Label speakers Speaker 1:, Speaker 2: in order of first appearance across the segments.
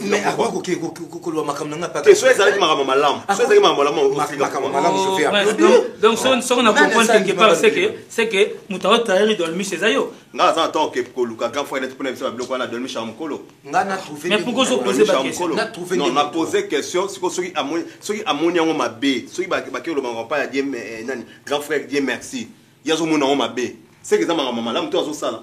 Speaker 1: mais akoki
Speaker 2: koke koloba makambo nanga pate so ezalaki makambo malamu so ezalaki makambo
Speaker 3: malamumakambo malamu donc soki na comprendre quelque part c'est que moto ao trahiri dolmiche eza yo nga aza na temps oke
Speaker 1: koluka grand frère neti mpona biso babiloko wana dolmiche ya mokolo
Speaker 3: nga na pose
Speaker 1: question siko soki amoni yango mabe soki bakei koloba makambo pa ya die nani grand frère die merci ye azomona yango mabe seke eza makambo malamu to azosala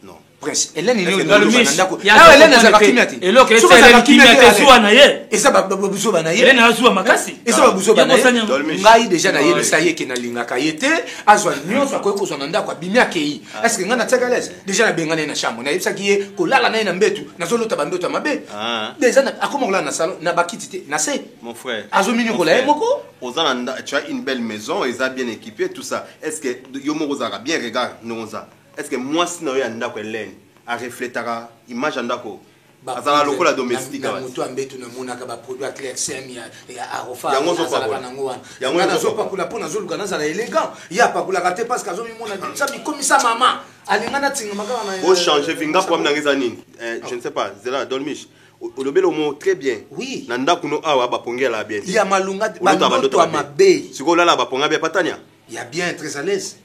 Speaker 2: Non, prince, Hélène est née dans le miche. Ah, Hélène
Speaker 3: est partie miate. Et l'autre, c'est Hélène qui miate sous Anaye. Et ça, babuzo banaye.
Speaker 2: Hélène a sous Amakasi. Et
Speaker 3: ça, babuzo
Speaker 2: banaye. Ngai déjà na yé, ça y est, qui na linga kayete. Azwa nyon, ça koyo kozwa nanda kwa bimia kei. Ah. Est-ce que ngana tsaka les? Déjà na bengane na chambre. Na yebisa ki ye ko lala na na mbetu. Na zolo ta bambetu mabe. Ah. Déjà na akoma kola na salon, na bakiti te, na se. Mon frère. Azo minyo
Speaker 1: kola ye moko.
Speaker 2: Ozana tu as
Speaker 1: une belle maison, ils a bien équipé tout ça. Est-ce que yo moko zaka bien regarde, non ça. Est-ce que mwasi na yo ya ndako Hélène a refletaka image ya ndako azala lokola domestique na moto ya mbeto
Speaker 2: namonaka baproduit ya clercem ya arofaazalaka nango wana nga nazopakola mpo nazoluka nazala élégant ye apakolaka te parce que azomimona sa bikomisa mama alinga natingama kaka na ochange euh, vinga problème
Speaker 1: nanga eza nini euh, je ne sais pas zela dolmiche olobeli omo très bien oui. na ndako no
Speaker 2: awa
Speaker 1: bapongela bien ya malunga
Speaker 2: bandoto ya mabe sikoyo olala baponga bia
Speaker 1: patania ya bien très à
Speaker 2: l'aise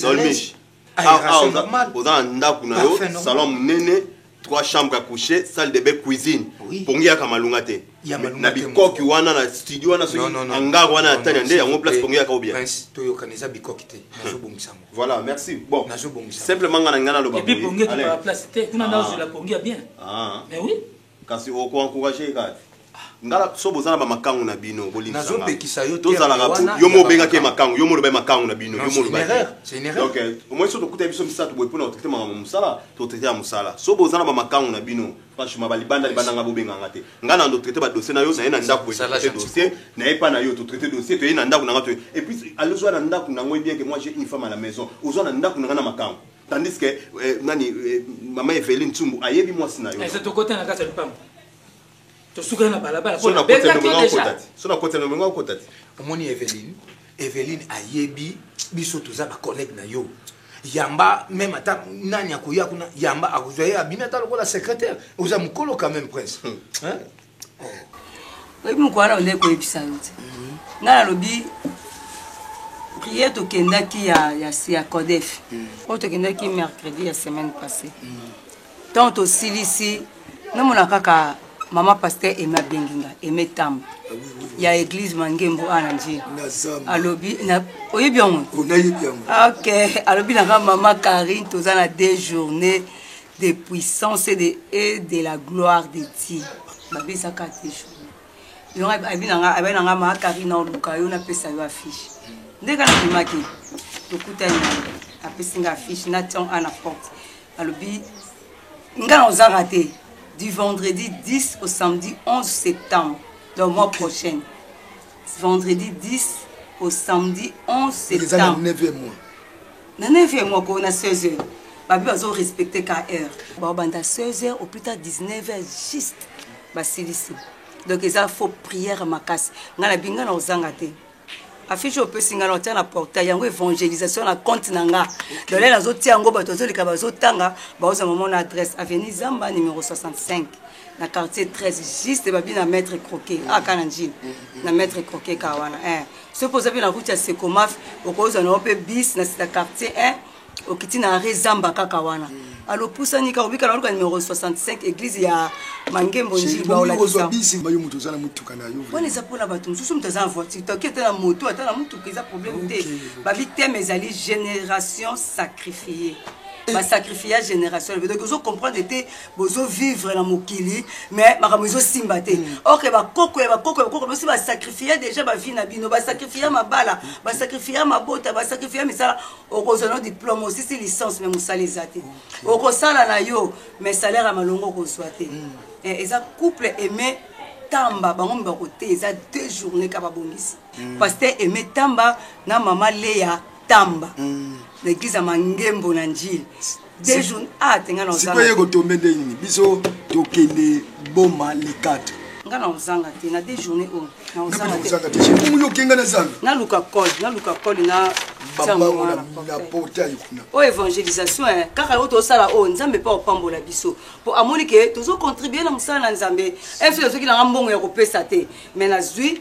Speaker 2: dolmish oza na ndako
Speaker 1: na yo salon monene trois chambres à coucher salle de bain cuisine pongi yaka malunga te na bikoki wana na studio wana soki hangar wana ya tania nde yango place pongi yaka obia toyokana eza
Speaker 2: bikoki te nazobongisa yango voilà merci bon
Speaker 1: nazobongisa simplement nga
Speaker 2: na ngai naloba
Speaker 1: pongi
Speaker 3: kuna nazozela pongi ya bien mais oui kasi oko
Speaker 1: encourager ye kaka te ngala so boza na bamakangu na bino bolimbisangapekisa yo
Speaker 2: tozalaka yo mo
Speaker 1: obengaki ye makangu yo mo olobaki makangu na bino yo mo olobakidonk
Speaker 2: omoi so tokuta
Speaker 1: biso misato boye mpona kotraite makambo mosala totraite ya mosala so boza na bamakangu na bino franchement balibanda libanda nga bobenganga te nga na ndotraite badossier na yo naye na ndako boye dossier naye mpa na yo totraite dossier toye na ndako na nga toye epuis alozwa na ndako na ngoi bien ke moi j'ai une femme à la maison ozwa na ndako na nga na makangu tandis que eh, nani eh, mama Eveline Tsumbu ayebi mwasi na yo ese tokota na kati ya
Speaker 3: lupango tosukana na balabala
Speaker 1: so na kota na mengo akota te omoni Eveline
Speaker 2: Eveline ayebi biso toza ba collègue na yo yamba même ata nani akoya kuna yamba akozwa ye abimi ata lokola secrétaire oza mokolo quand même prince hmm. hein?
Speaker 4: oyebi mokolo wana bandeki koyebisa yo te mhm. ngai nalobi priere tokendaki ya, ya, ya codef mhm. oyo tokendaki mercredi ya semaine passée mhm. ntango tosilisi namona kaka mama paster eme abengi nga eme tamba ah ya église mangembo awa na njili alobi oyebi yango oh, ok alobi nanga mama karine toza na deux journée de puissance et de, et de la gloire de Dieu. Babisa ka te journée. Yonga abi na nga abi na nga ma Karina oluka yo na pesa yo affiche. Nde kana bimaki. Tokuta ni apesi nga affiche na tian ana porte. Alobi nga na ozanga te du vendredi 10 au samedi 11 septembre le mois prochain. vendredi 10 au samedi 11 septembre
Speaker 2: na 9e mois na
Speaker 4: 9e mois ko na 16 heures babi bazo respecter ka heure babanda 16 heures au plus tard 19 heures juste basilisi donc eza faux prière makasi ngai na binga na ozanga te affiche opesi ngai naotia na portail yango évangélisation na compte na nga dole nazotia yango bato bazoleka bazotanga baoza momona adresse avenue zamba numero 65 na quartier 13 juste babi na maître croquet mm. aka na njini mm, mm. na maître croquet ka wana eh. soki oza mpe na route ya secomaf okozwa na yo mpe bis na sita quartier 1 okiti na arret zamba kaka wana alopusani kaka obikala oluka numero 65 église ya mangembo njiwana
Speaker 5: eza mpona bato mosusu
Speaker 4: moto aza na voiture toki ata na moto ata na motuka eza problème te babi teme ezali génération sacrifiée basacrifia génération ebe donc ozo comprendre te bozo vivre na mokili mais makambo ezosimba te mm. ok bakoko ya bakoko ya bakoko biso basacrifia déjà bavie na bino basacrifia mabala mm. basacrifia mabota basacrifia misala okozwa no diplome osisi licence mais mosala eza te mm. okosala na yo mais salaire ya malongo okozwa te eh, eza couple aime tamba bango mi bakote eza deux journée ka babongisi paster aime tamba na mama leya tamba mm. na eglise ya mangembo na njili dejour a ah, te nga na ozanga ye kotombe nde
Speaker 5: nini biso tokende boma likata nga na ozanga
Speaker 4: te na de journée oyo na ozanga te oyo okenga na zanga
Speaker 5: naluka cole naluka
Speaker 4: cole na
Speaker 5: oyo évangélisation
Speaker 4: eh, kaka oyo tozosala oyo oh, nzambe mpe akopambola biso mpo amoni ke tozocontribue na mosala na nzambe mpe eh, soki nazwaki nanga mbongo ya kopesa te mai nazwi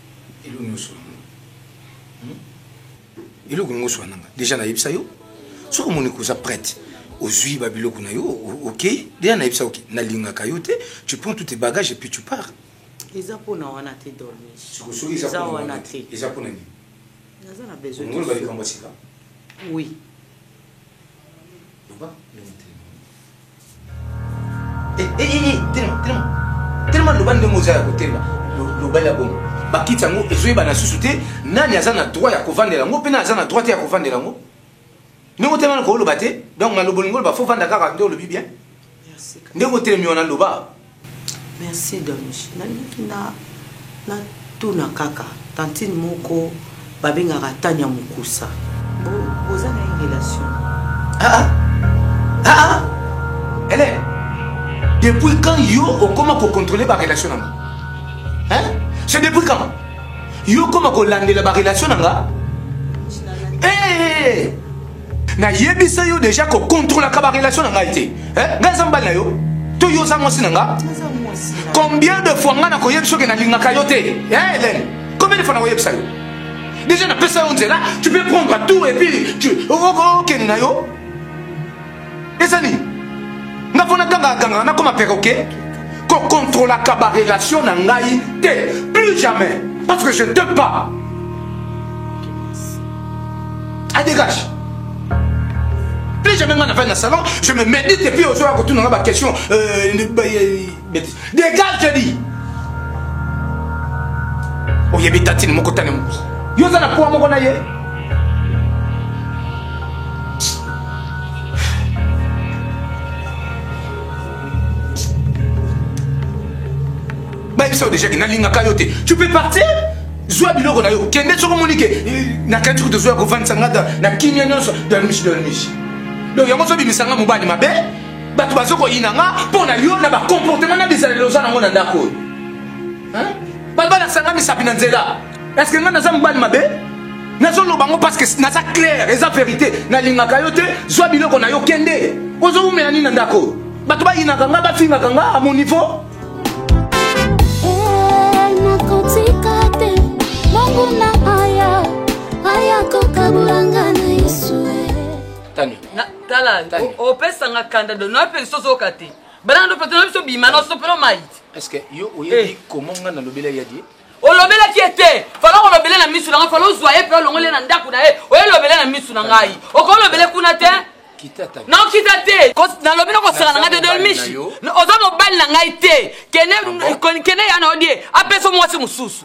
Speaker 2: eloko nyonso yango hmm? eloko nyonso wana nga deja nayebisa yo soki omoni koza prête ozwi ba biloko na yo okei deja nayebisa oke nalingaka yo te tu prends tout tes bagages et puis tu pars eza mpona
Speaker 6: wana te dormiseza wana
Speaker 2: te eza mpona nini naza na
Speaker 6: besoinongoloba likambo ya
Speaker 2: sika oui Eh, eh, eh, telema telema telema loba ndenge oza ya kotelema loba ya bongo bakiti yango ezoyebana susu te nani aza na droit ya kovandela yango mpe nani aza na droit te ya kovandela yango ndenge otelema na kooloba te donc maloba olingi oloba fo vanda kaka nde olobi bien ndenge
Speaker 6: otelemi wana
Speaker 2: loba Merci
Speaker 6: Donj nalingi na na tuna kaka tantine moko babengaka tanya mukusa bo boza na ye relation? Ah ah ah ah
Speaker 2: Hélène depuis quand yo okoma ko contrôler ba relation na nga hein c'est depuis quand yo okoma kolandela ba relation na nga eh, eh, eh. nayebisa yo deja kocontrolaka barelation na ngai te eh, ngai aza mbali na yo to yo oza mwasi na nga combien de fois ngai nakoyebisa oke nalingaka yo te helene eh, combien de fois nakoyebisa yo deja napesa yo nzela tu peux prendre tout et puis okende na yo eza nini nga mpo natangaka kangaka nakoma peroke kokontrolaka barelation na ngai te plus jamais parce que je te pas adégage plus jamais nga nafai na salon je me médite epuis ozoya kotuna nga baquestion euh, bêtise dégage je dis oyebi tatine moko tane moko yo oza na poa moko na ye bayebisa yo déjà ke nalingaka yo te tu peux partir zwa biloko na yo kende soko omoni ke nakanisi kutu zwa ya kovandisa nga na kimia nyonso dalmishi dalmishi donc yango ozobimisanga mobali mabe bato bazokoyina nga mpo na yo na bacomportement na bizaleli oza nango na ndako oyo bato balakisa nga misapi na nzela eske nga naza mobali mabe nazoloba yango parceke naza claire eza verité nalingaka yo te zwa biloko na yo kende ozowumela nini na ndako oyo bato bayinaka nga bafingaka nga a mon
Speaker 7: niveau
Speaker 2: tala
Speaker 8: opesanga kanda do na mpe sozoka te bana ndo petona biso bima na sopelo mait est-ce que yo oyebi
Speaker 2: eh. comment nga nalobela ya die olobelaki ye
Speaker 8: te fala olobele na misu na ngai fala ozwa ye mpe olongole na ndako na ye oyelobele na misu na ngai okolobele kuna te nakita te nalobi nakosaka na ngai te dolmishi oza mobali na ngai te kene ya na odie apesa mwasi mosusu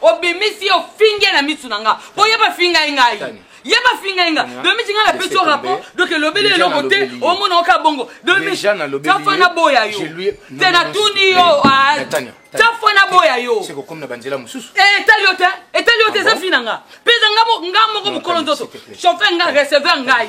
Speaker 8: obimisi yo finge na misu na nga po ye bafinga ye ngai ye bafinga ye nga domi tinga na pesi yo rapport donc elobeli eloko te omona oka bongo domi tafa na boya yo te natuni yo tafa na boya yo
Speaker 2: etali yo te etali
Speaker 8: yo te eza fi na nga mpe eza nga moko mokolo nzoto chauffe nga receveur ngai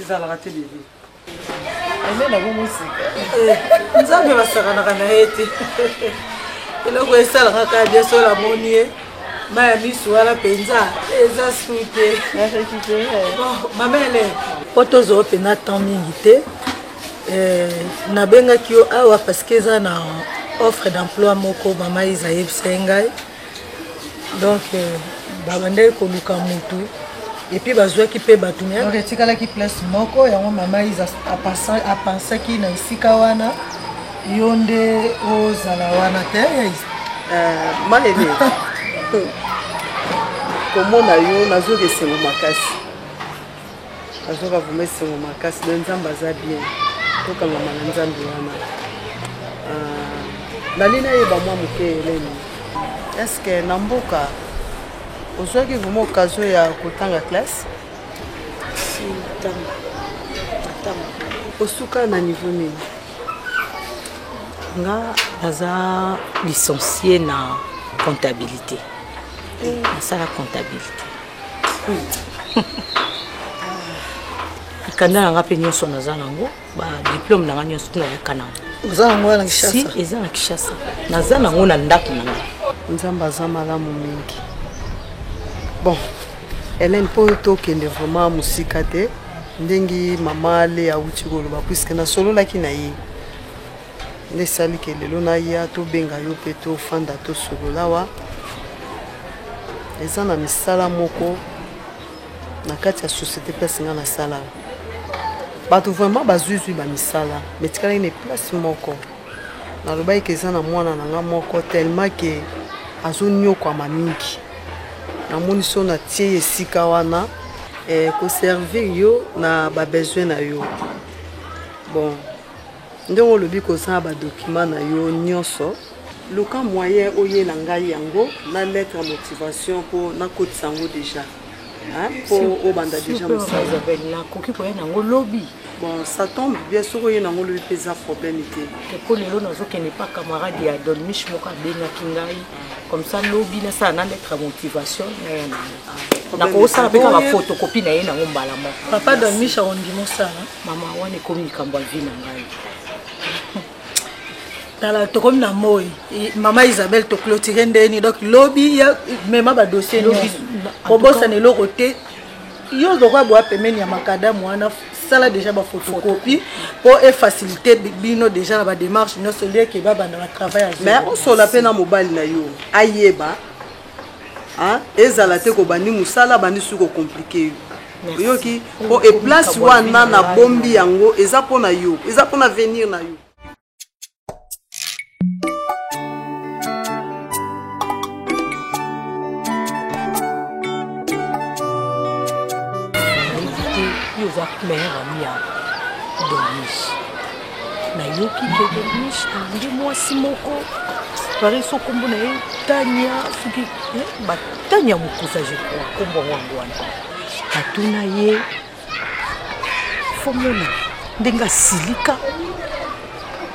Speaker 8: ezalaka te bebe
Speaker 6: ene na bongo sika eh, nzambe basakanaka na ye te eloko esalaka kaka bien sola moni ye mai ya misu wana mpenza eza su te mamele po tozwa mpenza temps mingi te eh, nabengaki yo awa parce que eza na offre d'emploi moko mama eza yebisa ye ngai donc euh, babandaki koluka motu epuis bazwaki mpe bato donc etikalaki place moko yango mama isa apansaki na esika wana yo nde ozala wana te euh, malele komona yo nazwaki esengo makasi azoka vraimen esengo makasi na nzambe aza bien tokangama na nzambe wana ah, nali nayeba mwa moke eleni eske na mboka ozwaki vraimen okazio ya kotanga classe osuka na niveau nini
Speaker 9: nga naza licencie na comptabilité eh. nasala comptabilité mikanda na nga mpe nyonso naza nango badiplome na nga nyonso mpe nayoka nango oza nango wana
Speaker 6: si eza na kishasa
Speaker 9: naza nango na ndako na nga nzambe aza
Speaker 6: malamu mingi bon helene mpo tokende vraiment mosika te ndenge mama ale awuti koloba puiske nasololaki na ye nde esali ke lelo naya tobenga yo mpe tofanda tosolola awa eza na misala moko na kati ya société place nga nasala bato vraiment bazwizwi bamisala mais tikalaki na place moko nalobaki ke eza na mwana na nga moko tellement ke azonyokwama mingi namoni so natie ye esika wana eh, koservir yo na babesoin na yo bon Ndenge olobi kozanga ba documents na yo nionso. Luka moyen oyela ngai yango na lettre ya motivation po nakotisa yango dejà hein, po obanda S'il dejà vous plaît, mosala. maman Isabelle, nakoki
Speaker 9: koya nango lobi Bon, ça tombe
Speaker 6: bien soki oye nango lobi mpe eza problème te. eko lelo nazokende
Speaker 9: pa camarade ya don mich moko abengaki ngai comme ça lobi nasala na lettre ya motivation naya nango problème nakosala te. mpe kaka Boye- fotokopi na ye nango mbala moko Papa Don Micha
Speaker 6: ondima osala Mama wana ekomi
Speaker 9: likambo ya vie na ngai.
Speaker 6: tala tokomi na moi mama isabelle toclotire ndeni donc lobi ya mema badossier kobosana eloko te yo ozokoya boya pembeni ya makadamu wana sala déjà bafotocopie mpo efacilité bino déjà na badémarche nyonso lieke babanda batravail mais osola mpe na mobali na yo ayeba ezala te kobandi mosala abandi suki okomplike yo oyoki po eplace wana na bombi yango eza mpo na yo eza mpo na avenir na yo
Speaker 9: oza mère ya domis nayoki kedelush alingi mwasi moko pare so nkombo na ye tania soki eh, batania mokusa je crois nkombo yango yango wana natuna ye fomona ndenge asilika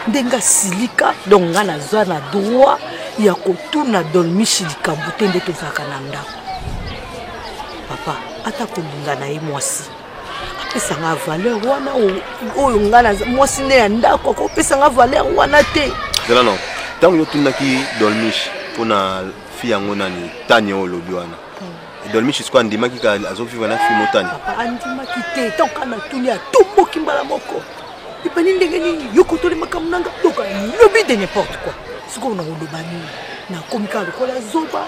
Speaker 9: ndenge asilika donc ngai naza na droit ya kotuna dolmishi likambo te nde tozalaka na ndako papa ata kolinga na ye mwasi pesanga valeur wana oyo nga na mwasi nde ya ndako akopesanga valeur wana te zela no
Speaker 1: ntango yotunaki dolmish mpona fi yango nani tani oyo olobi wana hmm. dolmish siko andimaki ka azovivre na fi motani andimaki
Speaker 9: te ntango ka natuni atomboki mbala moko ebani ndenge nini yokotoli makambo nanga doka lobi de n'importe quoi sikoyo nakoloba nini nakomi kaka lokola zoba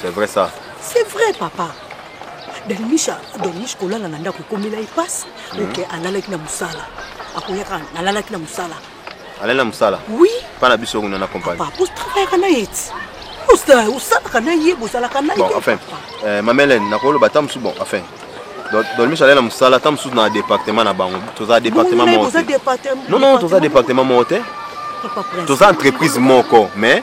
Speaker 9: C'est vrai ça.
Speaker 1: C'est vrai papa.
Speaker 9: Danimisha Danish kolala na ndako ekomela ipasi mm -hmm. oke alalaki na mosala akoyaka nalalaki na mosala alali na mosala
Speaker 1: oui mpa na biso
Speaker 9: kuna na
Speaker 1: compagnie papa ostravaillaka na
Speaker 9: ye ti osalaka na ye bozalaka na ye bon enfin euh,
Speaker 1: mamelene nakoloba ata mosusu bon enfin dolmiso alali na mosala ata mosusu na département na bango toza département moko te non non toza département moko te toza entreprise moko mais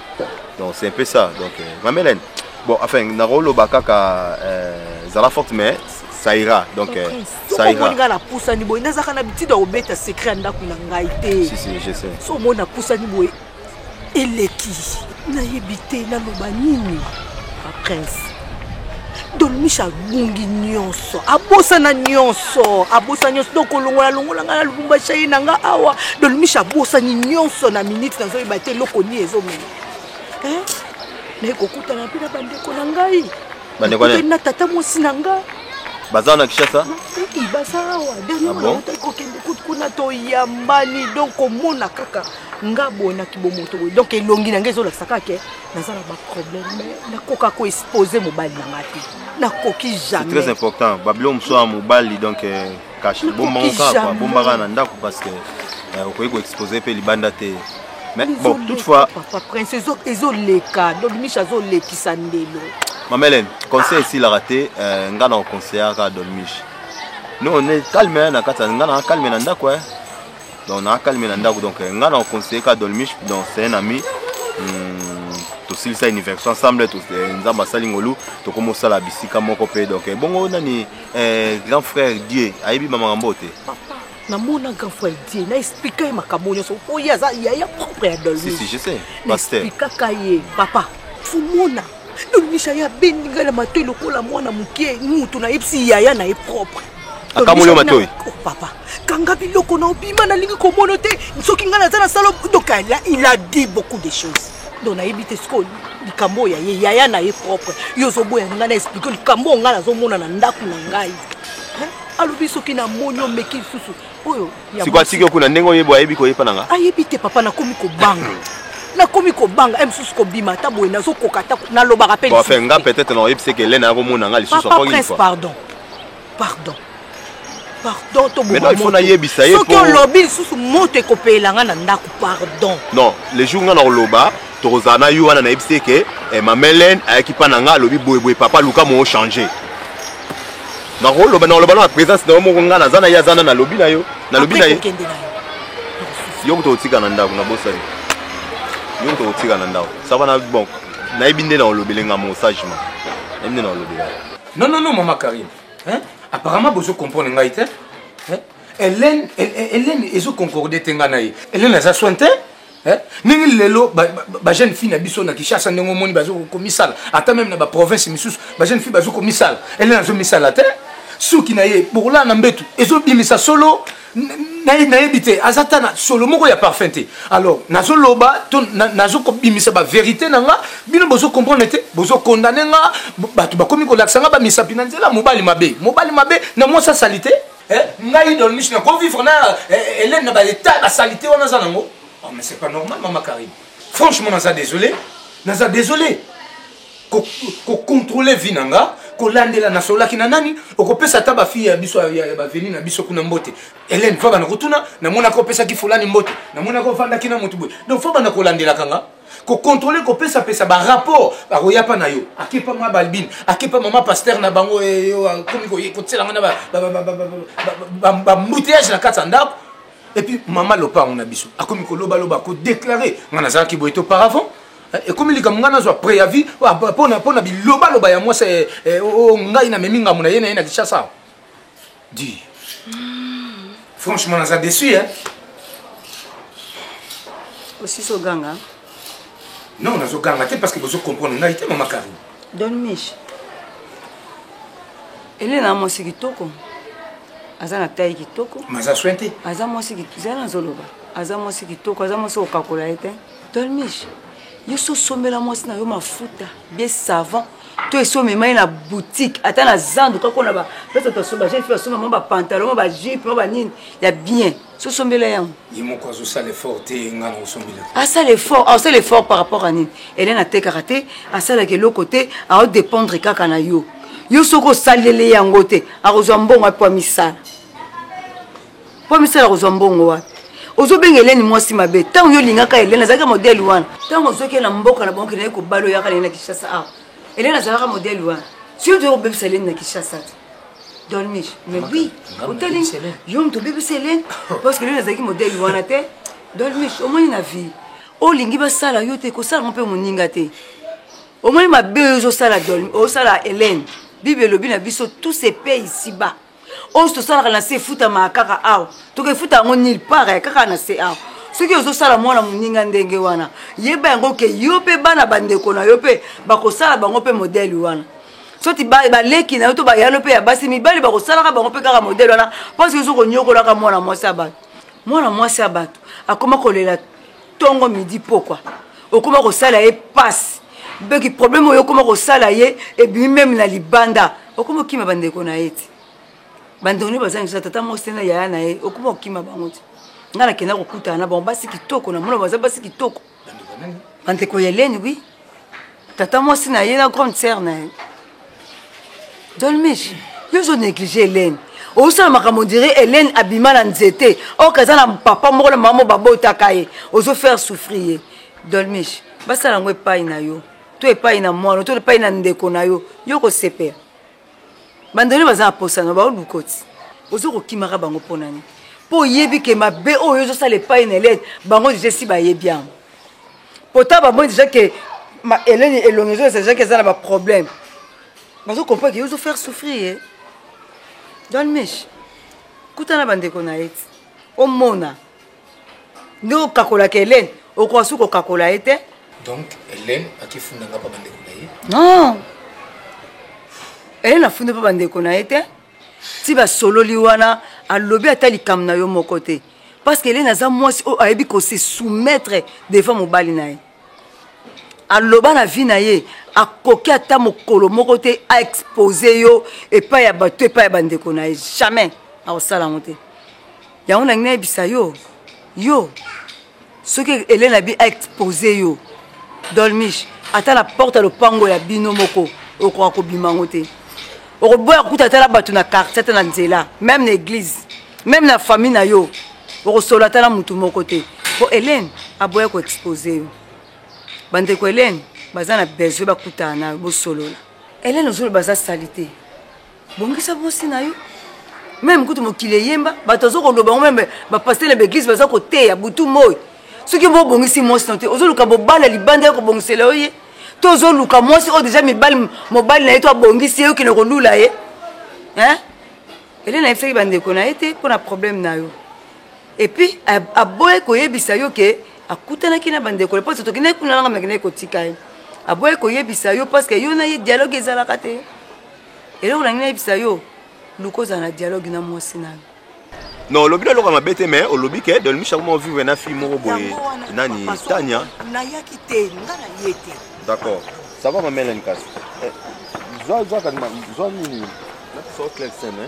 Speaker 1: donc c'est un peu ça donc euh, ma mélène bon enfin nakoloba kaka euh, zala forte mais ça ira donc euh, ça ira sokomoni ngai napusani boye
Speaker 9: nazaka na bitida obeta secret ya ndako na ngai te si si je sais so omoni
Speaker 1: napusani
Speaker 9: boye eleki nayebi te naloba nini prince don michel abungi nyonso abosana nyonso abosana nyonso donc kolongola longola ngai na lubumbashi aye na ngai awa don michel abosani nyonso na minute nazoyeba te eloko nini ezomema naye kokutana mpe na bandeko na ngai na tata mwasi na ngai baza na
Speaker 1: kishasa baza
Speaker 9: awa dernierotaki ah kokende kuna toyambani donc komona kaka nga boye na kibomoto boye donc elongi na ngai ezolakisa kaka naza na baproblème mais nakoka ko expose mobali na nga te nakoki jamais très important babilo
Speaker 1: mosusu ya mobali donc euh, kashi bombaka kaka bombaka na ndako parce que euh, okoki ko expose mpe libanda te mais bon toutefois papa prince
Speaker 9: ezoleka donc miche azolekisa ndelo mama helene
Speaker 1: conseil esilaka te euh, ngai na koconseillaka dolmiche no ne calme na kati ya ngai na calme na ndako donc na calme na ndako donc nga na conseiller ka dolmish donc c'est un ami hmm, tosilisa université ensemble eh, nzambe asali ngolu tokoma osala bisika moko mpe donc eh, bongo nani eh, grand frère dieu ayebi bamakambo te namona
Speaker 9: grand frère die na explika ye makambo nyonso oyo aza yaya propre ya dolmesplikaka
Speaker 1: ye
Speaker 9: papa fumona Domisha ya bendi ngai na matoi lokola mwana moke mutu nayebisi yaya na ye propre akamoli matoi
Speaker 1: oh, papa kanga
Speaker 9: biloko na obima nalingi komono te soki ngai naza na salo donc il a dit beaucoup de choses donc nayebi te sikoyo likambo oyo ya ye yaya na ye propre yo ozoboya ngai na explike likambo oyo ngai nazomona na ndako na ngai alobi soki namoni omeki lisusu oyo sikoyo atiki yo kuna
Speaker 1: ndenge oyeba ayebi koyepa na nga ayebi te papa nakomi
Speaker 9: kobanga nakomi kobanga e mosusu kobima ata boye nazokoka ata nalobaka mpe enfin nga peut-être na
Speaker 1: oyebisi eke elena yakomona nga lisusu prince pardon
Speaker 9: pardon pardon tobomaifo nayebisa
Speaker 1: ye soki olobi lisusu
Speaker 9: moto ekopelela nga na ndako pardon non le jour nga
Speaker 1: na koloba tokozala na yo wana nayebisi eke eh, mamelene ayaki mpa na nga alobi boyeboye papa luka moo change nakoloba nakoloba na présence na yo moko ngai naza na ye aza na nalobi na yo nalobi na ye yo kuta otika na ndako nabosani yo kuta otika na ndako sava na bon nayebi nde na olobele nga mo sagement nayebi nde na olobela non non non mama
Speaker 2: karine hein? apparemment bozo comprendre ngai te hein? hélène hélène ezo concorde te ngai na ye hélène aza soin te Eh? ndenge lelo bajeune ba fille na biso na kishasa ndenge omoni bazokomisala ata meme na baprovince misusu bajeune fille bazokomisala elena azomisala te suki na ye bokolala na mbetu ezobimisa solo nayebi te aza ata na solo moko ya parfum te alors nazoloba to nazokobimisa baverité na nga bino bozocomprendre te bozokondane nga bato bakomi kolakisa nga bamisapi na nzela mobali mabe mobali mabe na mwasi asali te eh, ngai don miche na kovivre na eh, elene na baetat basalite wana aza nango oh, mais c'est pas normal mama carine franchement naza désolé naza désolé kocontrole vie na nga kolandela nasololaki na nani okopesa ata bafille ya biso ya baveni na biso kuna mbote helene fabana kotuna namonaka opesaki fulani mbote namonaka ofandaki na motu boye donc fabana kolandelaka nga kocontrole kopesapesa barapport bakoya mpa na yo akepa mwa balbine akepa mama paster na bango komi kotyela ngai na bambouteillage na kati ya ndako epuis mama lopango na biso akomi kolobaloba kodeklare ngai nazalaki boye to paravant eh, ekomi likambo ngai nazwa préavis mpo na bilobaloba ya mwasi eh, eh, oh, oh, ngai na memi ngambo na ye na ye na kishasa Dis. Franchement, naza déçu, hein.
Speaker 4: Aussi so ganga.
Speaker 2: Non, nazo ganga te parce que bozo comprendre ngai te mama Karine. Don Mich.
Speaker 4: Elena mwasi kitoko. Aza na taille kitoko. Maza soin te. Aza
Speaker 2: mwasi kitoko. Zala
Speaker 4: nazo loba. Aza mwasi kitoko, aza mwasi okakola ye te. Don Mich. Yo so sombela mwasi na yo mafuta, bien savon. to esi omema ye na boutique ata na zandu kaka na bapesa to asomba jeune fille asomba mwa bapantalon mwa bajupe mwa banini ya bien sosombela yango ye moko azosala
Speaker 2: effort te ngai nakosombela asala effort asala
Speaker 4: effort par rapport a nini elene atekaka te asalaka eloko te aodépendre kaka na yo yo soki osaleli yango te akozwa mbongo apo amisala mpo misala kozwa mbongo wapi ozobenga eleni mwasi mabe ntango yo olingaka eleni azalaki modele wana ntango ozoki na mboka na bango kendaki kobala oyaka leni na kinshasa awa eleni azalaka modele wana soki toyei kobebisa eleni na kinshasa te dolmich mais oui otali yo moto obebisa eleni parce que eleni azalaki modele wana te dolmich omoni na vie olingi basala yo te kosala ngo mpe moninga te omoni mabe oyo ozosala dolmi osala eleni bible elobi na biso tous se paye ici bas oyo tosalaka na se efutamaka kaka awa tokefuta yango nil part eh, kaka na se awa soki ozosala mwana moninga ndenge wana yeba yango ke yo mpe bana bandeko na yo mpe bakosala bango mpe modele wana soti baleki na yo to bayalo mpe ya basi mibali bakosalaka bango mpe kaka modele wana mpo soki ozokonyokolaka mwana mwasi ya bato mwana mwasi ya bato akoma kolela tongo midi pokwa okoma kosala ye passe mpe problème oyo okoma kosala ye ebimi meme na libanda okoma okima bandeko na ye ti bandeko nde bazangi kosala tata mwasi te na yaya na ye okoma okima bango ti ngai nakenda kokutana na bango basi kitoko na mona baza basi kitoko bandeko ya eleni wi tata mwasi na ye na grande sœur na ye john mish yo ozo néglige helene ozosala makambo ondire helene abima na nzete oyoka eza na papa moko na mama moko babotaka ye ozo faire souffrir ye dolmish basala yango epai na yo to epai na mwana to epai na ndeko na yo yo kosepela bandele baza na posa na bao lukoti ozo kokimaka bango mpo nani mpo oyebi ke mabe oyo ozosala epai na elene bango deja esi bayebi yango pota bamoni deja ke elene elongi ezolesa deja ke eza na baproblème bazo comprendre ke yo ozofaire souffrir ye don mich kuta na bandeko na ye ti omona ndenge okakolaka helene okoka suki okakola ye te donc helene
Speaker 2: akifunda nga mpa bandeko na ye non
Speaker 4: helene afundi mpa bandeko na ye te ti basololi wana alobi ata likambo na yo moko te parce que helene aza mwasi oyo ayebi kose soumettre devant mobali na ye aloba na vie na ye akoki ata mokolo moko te aexpose yo epai ya bato epai ya bandeko na ye jamais akosala yango te yango nangi nayebisa yo yo soki elena bi expose yo dolmish ata na porte ya lopango ya bino moko okoka kobima yango te okoboya kokuta ata na bato na quartier ata na nzela meme na église meme na famille na yo okosolo ata na motu moko te mpo helene aboya koexpose yo bandeko helene baza na besoin bakutana na yo bosolola helene ozoloba aza sali te bongisa bosi na yo meme kutu mokili eyemba bato aza koloba ngo meme bapaster na baeglise baza koteya butu moi soki mbo obongisi mwasi na te ozoluka bobala libanda ya kobongisela yo ye to ozoluka mwasi oyo deja mibali mobali na ye to abongisi ye okende kolula ye elena ayebisaki bandeko na ye te mpo na problème na yo epuis aboye koyebisa yo ke akutanaki na bandeko le mposo tokendaki kuna nanga nakendaki kotika ye aboye koyebisa yo parce que yo na ye dialogue ezalaka te eloko nangi nayebisa yo luka ozala na dialogue na mwasi nayo non olobi
Speaker 1: na eloko ya mabe te mais olobi ke dolmisha akoma ovivre na fille moko boye nani tania nayaki te
Speaker 9: nga na ye te d'accord
Speaker 1: ça va mamela nikasi eh, zwa zwa nini napisao clel seme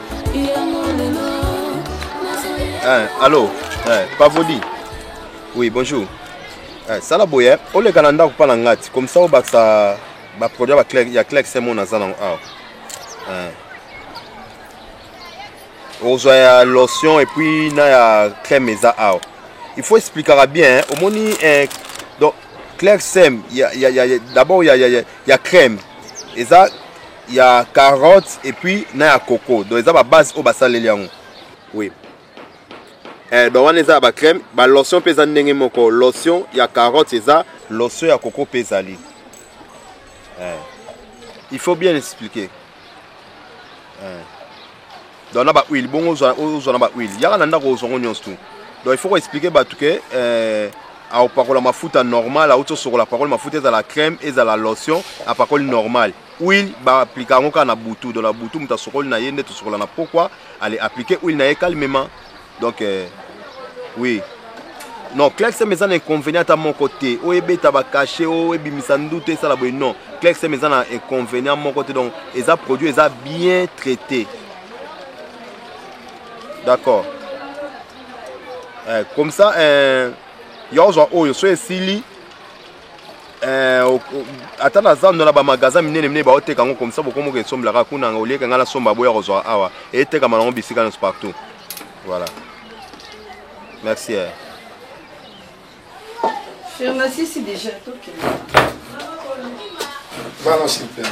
Speaker 7: Hein, allô
Speaker 1: hein, Pavodi Oui, bonjour. Hein, sala boye, oleka na ndako mpa na ngati comme ça obakisa baproduit ba clé, ya clex mo naza nango awa hein. ozwa ya lotion et puis na ya crème eza awa il faut explikaka bien hein. omoni hein, donc clex ya, ya, ya, ya, d'abord ya, ya, ya, ya crème eza ya carotte et puis na ya coco donc eza ba base oyo basaleli yango oui eh, donc wana eza ya bacrème balotion mpe eza ndenge moko lotion ya carotte eza lotion ya coco mpe ezali eh. il faut bien expliquer eh. donc na bahuile bongo ozwa na bahuile yaka na ndako ozwa ngo nyonso tu donc il faut koexplike bato ke eh, aopakola mafuta normal auti osokola apakoli mafuta ezala crème ezala lotion apakoli normal Huile ba appliquer yango kaka na butu, donc na butu moto asokoli na ye nde tosokola na pokwa, ale appliquer huile na ye calmement. Donc euh, oui non clexm eza na inconvénient ata moko te oyo ebeta bacachet oyo ebimisa ndutu esala boye non clexm eza na inconvénient moko te donc eza produit eza bien traité d'accord eh, comme ça eh, ya ozwa oyo so esili Eh, ata na zando na bamagasin minene minene baoteka yango komisa bokomoka esombelaka kuna nga olieke ngai nasomba boya kozwa awa etekama nango bisika nyonso partout voilà merci eh. Merci
Speaker 4: déjà,
Speaker 5: ok. Balance le père.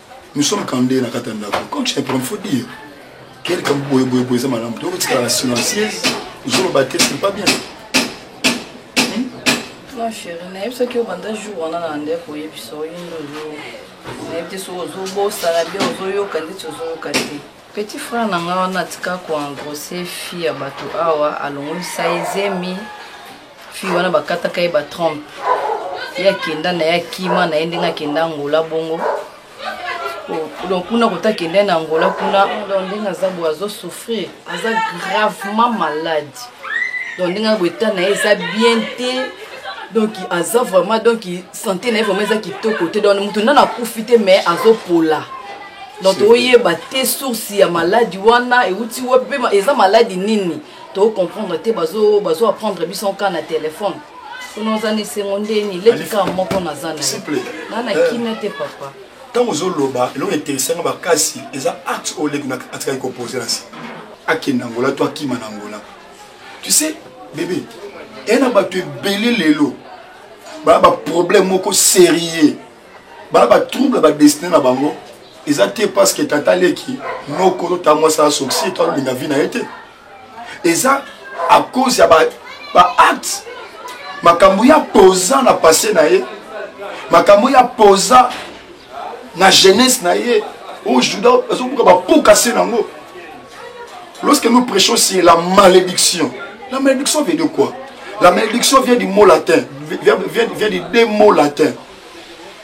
Speaker 5: nous sommes kande na kati ya ndako comme je prends faut dire quel kambu boye boye boye eza malamu to kotikala silencieuse ozoloba te c'est pas bien hmm?
Speaker 4: non chéri nayebi soki obanda jour wana na ndeko oyebisa oyindi ozo nayebi te soki ozobosana bien ozoyoka ndeti ozoyoka te petit frère na ngai wana atika koengrose fille ya bato awa alongolisa ye zemi fille wana bakataka ye batrompe ye akenda na ye akima na ye ndenge akenda angola bongo donc kuna kota akenda na angola kuna donc ndenge aza boye azosouffrir aza gravement malade donc ndenge boye ta na ye eza bien te donc aza vraiment donc santé na ye vraiment eza kitoko te donc moto nana akufi te mais azopola donc toyeba te source ya maladi wana euti wapi mpe eza maladi nini to comprendre te bazo bazo apprendre biso nka na telefone kuna oza na esengo ndeni leki kaka moko naza naye na na eh. kimia te papa ntango ozoloba
Speaker 5: eloko interesanga makasi eza acte oyo leki atikaki kopose na nsima akenda angola to akima na angola tu sais bebe ena bato ebele lelo baa baproblème moko sérieux bana ba trouble ba destiné na bango eza te parce que tata leki noko to ta mwasi asokisi to alinga vie na ye te eza à cause ya ba, ba acte makambo ya posa na passé na ye makambo ya posa na jeunesse na ye oyo juda azobuka bapuka se nango lorsque nous prêchons sur la malédiction la malédiction vient de quoi la malédiction vient du mot latin vient, vient, vient du deux mots latin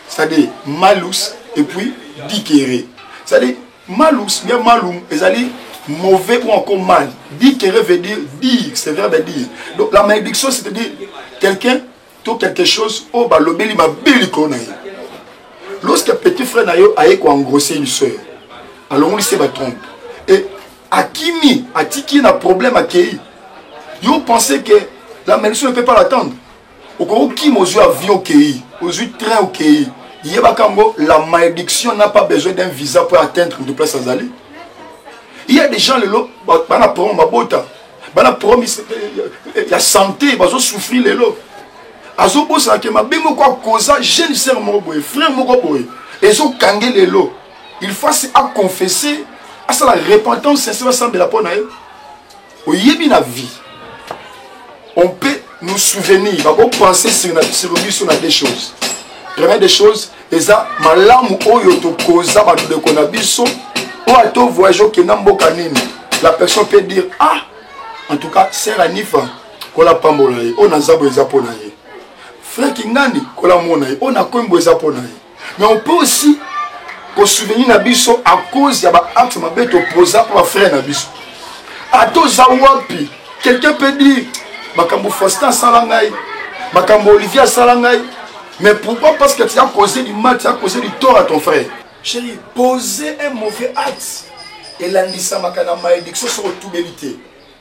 Speaker 5: c'est-à-dire malus et puis dikere c'est-à-dire malus bien malum ezali mauvais ou encore mal dikere veut dire dire c'est verbe à dire donc la malédiction c'est-à-dire quelqu'un to quelque chose oyo oh, balobeli mabe likolo na ye lorsque petit frère na yo aye koengrosse une sœur alongoli se batrompe et akimi atiki na problème akei yo pense que la malédiction ne peut pas l'attendre okokima ozwi avion okei ozwi train okei yebaka yango la malédiction n'a pas besoin d'un visa pour atteindre de place azali il y a des gens lelo bana problème babota bana problème ya santé bazosouffrir lelo azobosana ke mabe moko akoza jeune sœur moko boye frère moko boye ezokange lelo il faut asi aconfesse asala repentance sincère asambela mpo na ye oyebi na vie on peut nous souvenir bakopense sur biso na des choses première des choses eza malamu oyo tokoza bandeko na biso oyo ato voyage okenda mboka nini la personne peut dire ah en tout cas ser anifa kola pambola ye oyo naza boye eza mpo na ye frère kingandi kola mona ye oyo nakomi boye eza mpo na ye mais on peut aussi kosouvenir na biso à cause ya baacte mabe topoza mpo bafrère na biso ata oza wapi quelqu'un peut dire makambo faustin asala ngai makambo olivier asala ngai mais pourquoi parce que tu as causé du mal tu as causé du tort à ton frère chéri poser un mauvais acte elandisamaka na malédiction soko otubeli te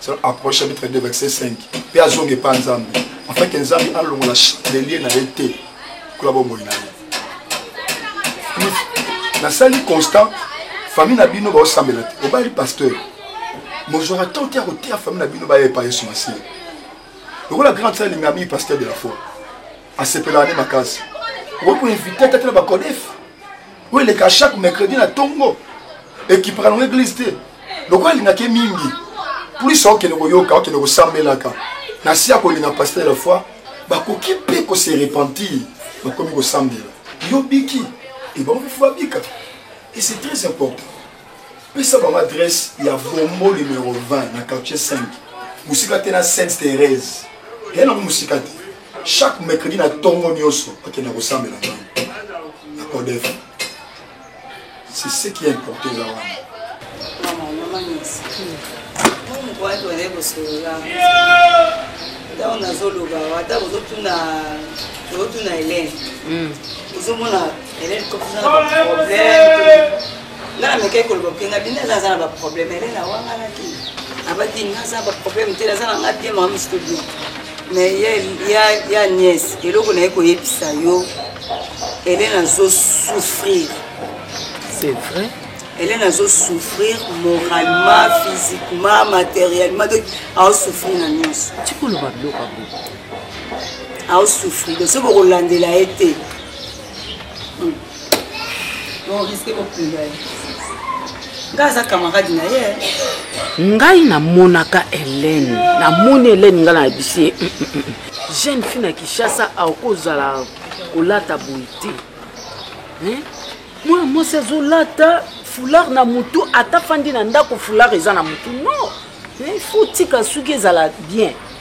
Speaker 5: selon approche chapitre 2 verset 5 mpe azonga epa nzambe afin ke nzambe alongola lelie na ye te kola bomoi na ye nasali constant famille na bino baosambela te obali pasteur mozwaka temps te ya koteya famille na bino baya epa yesu masiya lokola grande sœur alinga mingi pasteur de la foi asepelaka nde makasi okoki koinvite ata te na bacodefe oyo eleka chaque mercredi na tongo ekipaka nango eglise te lokola alingaka ye mingi plus okende koyoka okende kosambelaka na si ya kolinga paster de la foi bakoki mpe kose repentir bakomi kosambela yo biki ebango mpe fo babika et c'est très important pesa bango adresse ya bombo numero 20 na quartier 5 mosika te na sainte thérèse ya nango mosika te chaque mercredi na ntongo nyonso akenda kosambela ngai na codef c'est ce qui importe eza wana
Speaker 4: ntango nazoloba ata ozotuna ozotuna helene ozomona helene kokozana baproblème nga na mekaki koloba mpe nga bino aza aza na baproblème ele na wanga na te abaki nga aza na baproblème te naza na nga bien mama misuto bien mais ya, ya, ya nièce eloko naye koyebisa yo ele nazo souffrir
Speaker 9: c'est vrai ele nazo
Speaker 4: souffrir moralement physiquement matériellement donc aosouffrir na nyonso tikoloba biloko
Speaker 9: yango
Speaker 4: aosouffrir donc soki okolandela ye te ngai namonaka
Speaker 9: helene namoni helene ngai na bisie mm, mm, mm, jeune fille na kinshasa akozala kolata boye te mwana mwasi azolata foulard na motu ata fandi na ndako foulard eza na motu non il faut tika suki ezala bien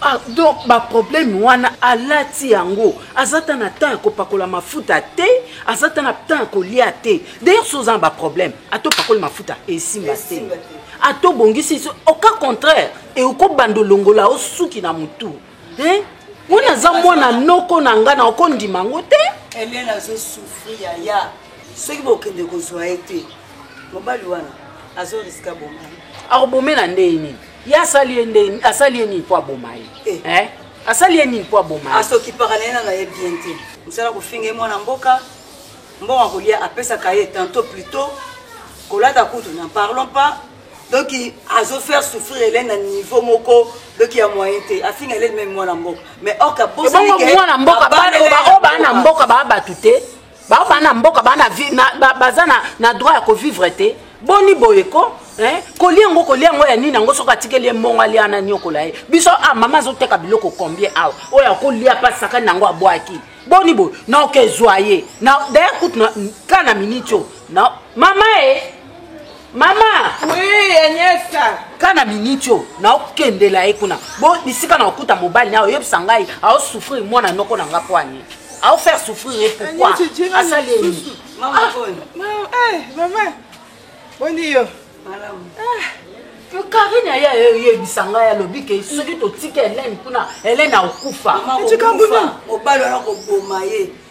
Speaker 4: Ah, donc
Speaker 9: baproblème wana alati yango aza ata na temps ya kopakola mafuta te aza ata na temps ya kolia te d'ailleurs so oza na baproblème ata opakoli mafuta esimba te ata obongisi au cas contraire eokobanda olongola osuki na motu wana aza mwana noko na ngai na okondima yango te elene azosouffrir
Speaker 4: yaya soki bokende kozwa ye te mobali wana azoriska bomai akobomela ndenge
Speaker 9: nini ye asali ye nde asali ye nini mpo aboma ye eh. eh? asali ye nini mpo aboma ye asokipaka na ye nanga ye
Speaker 4: bien te mosala kofinga ye mwana mboka mbongo kolia apesaka ye tanto plutot kolata kutu na parlons pas donc azo faire souffrir elene na niveau moko donc ya moyen te afinga elene meme mwana mboka mais orka bosmwana mboka baoyo
Speaker 9: baa na mboka baa bato te bao bana mboka bana baza na, na droit ya kovivre te boni boye ko eh? kolia yango kolia yango ya nini yango soki atikeli ye mbongo alia na niokola ye biso a ah, mama azoteka biloko combien awa oyo akolia mpa sakani yango abwaki boni boye naoka ezwa ye na daya kutu ka na miniti oyo mama e mama oui agnesa
Speaker 10: ka na miniti oyo
Speaker 9: naokendela ye kuna bo bisika na okuta mobali na oyebisa ngai aosouffrir mwana noko na nga mpo ani aofaire souffrir ye pourkui asali ye nini ah. eh,
Speaker 10: mama boni yo
Speaker 9: karine aye ayebisa ngai alobi ke soki totika helene kuna helene akokufa
Speaker 4: mobali wana koboma ye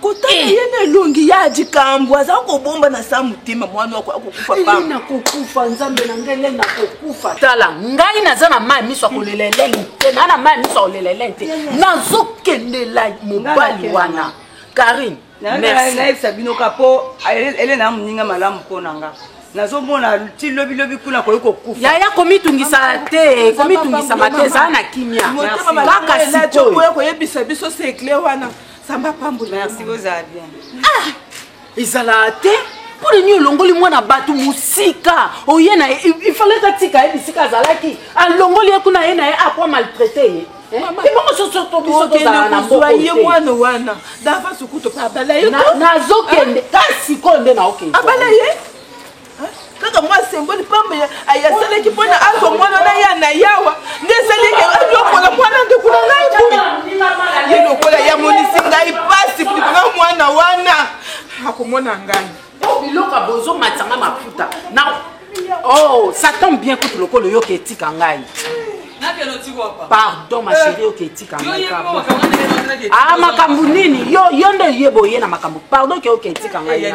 Speaker 10: kotala eh. ye na elongi ya likambo aza kobomba na sa motema mwana wako akokufa eh, pamba nakokufa
Speaker 9: nzambe na ngai lele nakokufa tala ngai naza na mai miso akolela eleni te naa na mai miso akolela eleni te nazokendela mobali wana karine nayebisa
Speaker 4: bino ka mpo elena moninga malamu mpo na ngai nazomona ti lobi lobi kuna koyi kokufa yaya komitungisa
Speaker 9: te komitungisama te ezala na kimia kaka sikoyo koyebisa biso
Speaker 10: sekle wana samba pambo merci ozala bien
Speaker 4: ah ezala
Speaker 9: te mpo nini olongoli mwana bato mosika oye na ye ifalaki atika ye bisika azalaki alongoli ye kuna ye na ye akwa maltraite ye ye mwana wana
Speaker 10: davance kutu mpe abala ye nazokende
Speaker 9: ta sikoyo nde naokende abala ye
Speaker 10: kaka mwa semboli pamba asalaki mpo na azwa mwana na ya na yawa nde esali eke ayokola mwana ndeko na ngai boye ye lokola yamonisi ngai mpasi likolo mwana wana akomona ngai po biloko ya bozo
Speaker 9: matisa nga mafuta na oh ça tombe bien kutu lokola oyoka etika ngai pardon ma chérie oke etika ngai ah makambo nini yo yo nde oyeba oye na makambo pardon ke oke etika ngai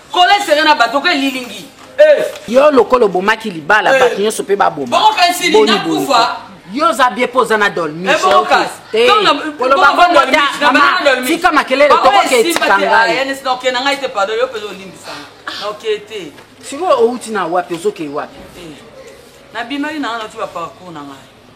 Speaker 8: Kole sere na bato ke lilingi. Eh. Yo
Speaker 9: lokola obomaki libala eh. bato nyonso mpe baboma. Bongo kasi lingi akufa.
Speaker 8: yo oza bie mpo
Speaker 9: oza na dolmitika makelele tokoke etika ngainokena ngai te pardon
Speaker 8: yo mpenza olimbisanga noke te sikoyo owuti
Speaker 9: na wapi ozokei wapi eh.
Speaker 8: nabimaki nanga nati baparcour na ngai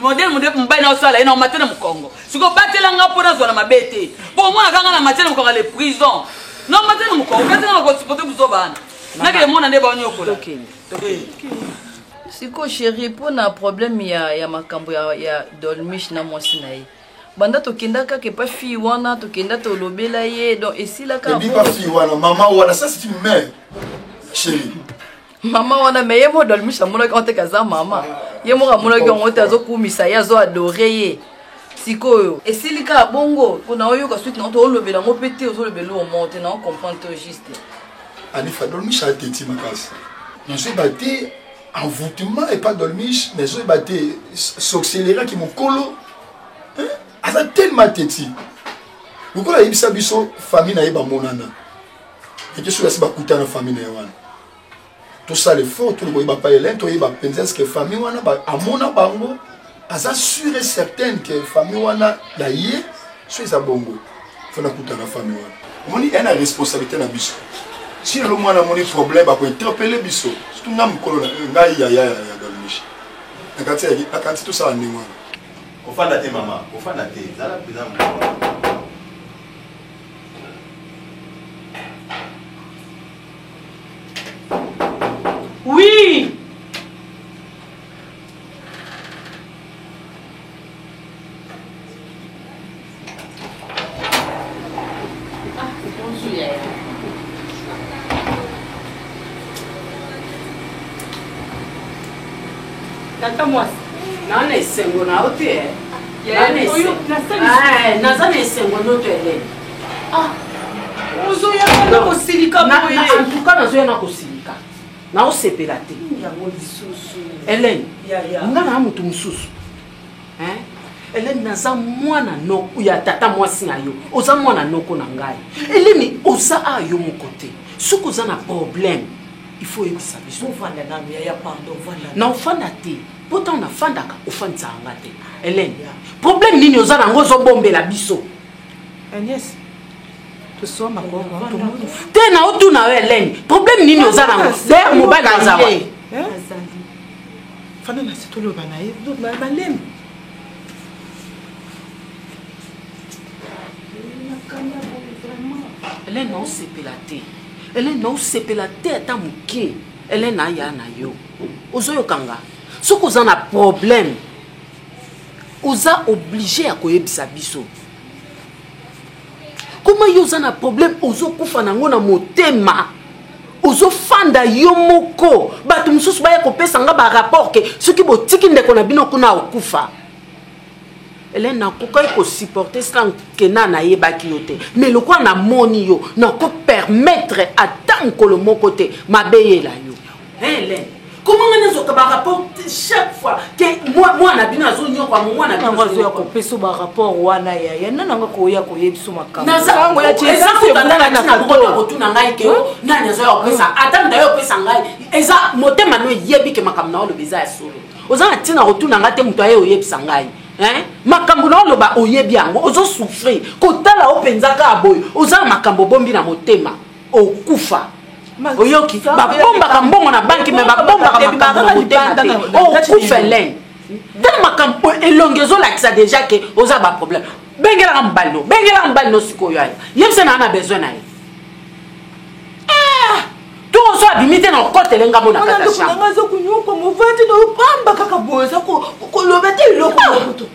Speaker 8: modele modele mobali naosala ye na omate na mokongo siko batela nga mpo nazwa na mabe te mpo omonaka nga na mate na mokongo ya le prison na omate na mokongo kasi nga nakosipote buzoba wana nakele mona nde baonyokola
Speaker 11: siko sheri mpo na probleme ya, ya makambo ya, ya dolmish na mwasi na ye banda tokenda kaka epa fille wana tokenda tolobela ye donc esilaka
Speaker 5: ebipa fille wana mama wana
Speaker 11: ça
Speaker 5: c'est une mère sheri mama
Speaker 11: wana me ye moko dolmish amonaki yango teke aza mama ye moko amonaki yango te azokumisa ye azo adore ye sikoyo esili kaka bongo mpo na oyoka suite na toolobela yango mpe te ozolobela oyo moko te na ocomprendre to juste alifa
Speaker 5: dolmish ateti makasi nazoyeba te envoûtement epa dolmish nazoyeba te soxeleraki mokolo aza tellement teti lokola ayebisa biso famille na ye bamonana ete soki asi bakuta na famille na ye wana tosala effort toli koyeba pa elin toyeba mpenza eske famille wana amona bango aza sur et certaine ke famille wana ya ye so eza bongo fo nakuta na famille wana omoni ena responsabilité na biso si lelo mwana amoni problème akointerpele biso surtout nga mokolo na eh, ngai yaya ya galmishi nakanisi tosala ndenge wana ofanda te
Speaker 1: mama ofanda te zala mpenza mokolo
Speaker 9: Oui
Speaker 12: tata mwasi naona esengo na yo te naza na esengo ndoto elene ah.
Speaker 9: ozoyaka kosilika boye antuka nazoya na
Speaker 12: kosilika naosepela te yango lisusu elene nga na motu mosusu eleni naza mwana noko ya tata mwasi na yo oza mwana noko na ngai eleni oza a yo moko te soki oza na problème il faut oyebisa biso
Speaker 9: na ofanda te
Speaker 12: po ntango nafandaka ofandisaka nga te helene problème nini oza nango ozobombela biso agnès
Speaker 9: toswa makongo tomoni te na
Speaker 12: otuna yo helene problème nini oza nango der mobali aza wa fanda na
Speaker 9: situloba na ye balemi
Speaker 12: helene naosepela te helene naosepela te ata moke helene aya na yo ozoyoka nga soki oza na problème oza oblige ya koyebisa biso koma yo oza na problème ozokufa nango na motema ozofanda yo moko bato mosusu baya kopesa nga barapport ke soki botiki ndeko na bino kuna okufa ele nakokaki kosupporte sila nkena nayebaki yo te mai lokola namoni yo nakopermettre ata mokolo moko te mabe yela yo Helen, comment nga nazwaka barapport chaque fois ke mwana bino azonyokwa mwana bino azoya kopesa barapport
Speaker 9: wana yaya nani yango koya koyebiso makambosango ya
Speaker 12: tiesakotuna ngai ke nani azoya kopesa hmm. ata nda yo opesa ngai eza motema no eyebi ke makambo na oloba eza ya solo oza na ntina kotuna ngai te moto aye oyebisa ngai makambo na oloba oyebi yango ozo souffrir kotala yo mpenza kaka boye oza na makambo obombi na motema okufa oyoki babombaka mbongo na banki me babombaka makambo na motema te okufa elene tala makambo elongi ezolakisa deja ke oza baproblème bengelaka mobali no bengelaka mobali no sikoyo ayo yebisa na ana besoin na ye ah! tozo abimi te na okotele nga mona kataanga aza konyoka
Speaker 9: movandi na opamba kaka boye oza koloba te eloko mokutu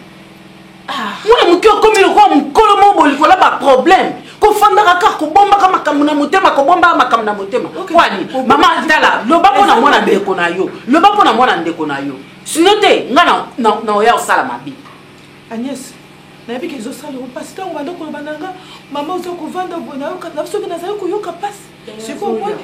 Speaker 9: ah.
Speaker 12: mwana moke okomi lokola mokolo moko bolikola baproblème kofandaka kaka kobombaka makambo na motema kobombaka makambo na motema kwani mama tala loba mpo na mwana ndeko na yo loba mpo na mwana ndeko na yo sino te ngai naoya kosala mabe agnès
Speaker 9: nayebi ke ezosala yango mpasi ntango banda koloba na nga mama oza kovanda boye nayoka na soki nazali koyoka mpasi sikoyo omoni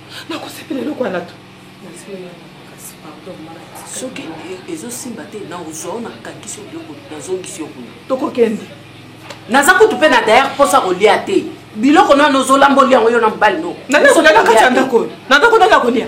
Speaker 9: nakosepela eloko wana to
Speaker 12: soki e, ezosimba te na ozwa ona kakisi biloko nazongisi yo kuna tokokende
Speaker 9: naza
Speaker 12: kutu mpe na dayere mposa kolia te biloko nano
Speaker 9: ozolamba
Speaker 12: olia
Speaker 9: yango yo
Speaker 12: na
Speaker 9: mobali
Speaker 12: no nanakotaka
Speaker 9: kati ya
Speaker 12: ndako
Speaker 9: oyo nanakotaka kolia